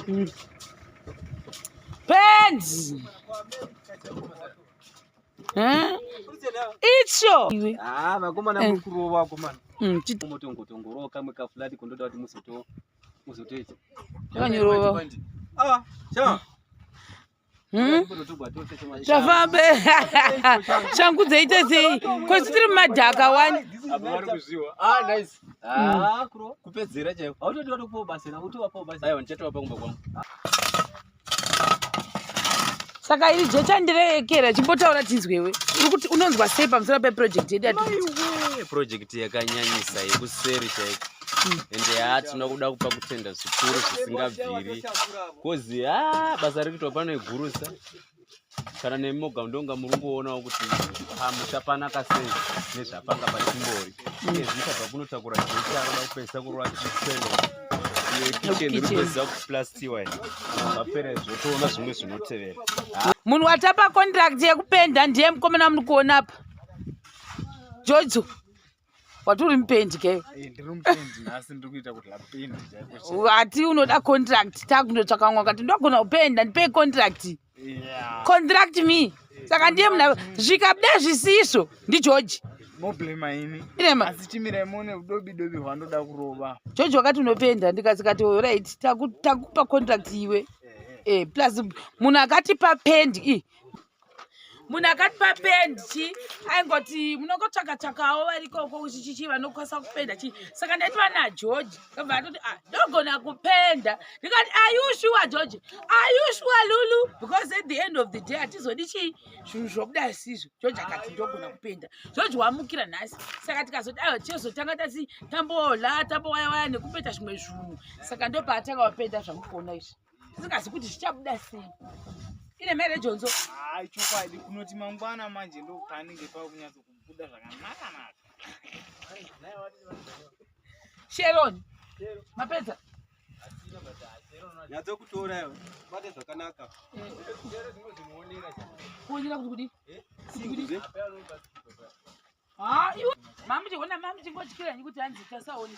Mm. Penzi. Eh? Icho. Ah, vakoma na eh. mkuru wako man. Mm, chito motongo tongoro kamwe ka flat kondoda kuti musoto musotoita. Kanyorova. Ah, chama. Hmm? zvafambe shangu dzeite sei kosi tiri mumadhaka wani saka iri jecha ndireekera chimbotaura tinzwewe urikuti unonzwa sei pamusoro peprojekti yedu yaprojekti yakanyanyisa yekuseri chaiko ende haa tinokuda kupa kutenda zvikuru zvisingabviri kozi haa basa riri kuitwa pano igurusa kana nemi moga ndonga muri kungoonawo kuti hamuchapanaka sei nezvapanga pachimbori iye zvichadva kunotakura zvinoita roda kupedzisa kurova chikweno munhu watapa contract yekupenda ndiye mukomana muri kuona apa jojo wati uri mupendi ke hati eh, unoda contract takundotsvaka mwa kati ndogona kupenda ndipei contract contract me saka ndiye muna zvikabuda zvisizvo ndigeorge george wakati unopenda ndikasikati orit takupa contract iwe eh, eh. eh, plus munhu akatipa pendi munhu akatipa pendi chi aingoti munongotsvaka tsvakawo varikoko chichichi vanokwanisa kupenda chi saka ndaiti vana george kabva atoti ah, ndogona kupenda ndikati ayushuwa george ayushuwa lulu because at the end of the day hatizodi chii zvinhu zvobuda zvisizvo george akati ndogona kupenda george wamukira nhasi saka tikazoti aiwa tichozotanga tasi tambola tambowayawaya nekupeta zvimwe zvunhu saka ndopaatanga wapenda zvamukuona izvi tisingazi kuti zvichabuda sei ine mere jonzo hayi chokwadi kunoti mangwana manje ndopanenge pava kunyatso kubuda zvakanaka naka sheron mapedza nyatso kutora iwe bate zvakanaka kuonera kuti kudi eh? kuti ha ah, iwe mamuti hona mamuti ngotyira nyi kuti hanzi tasaoni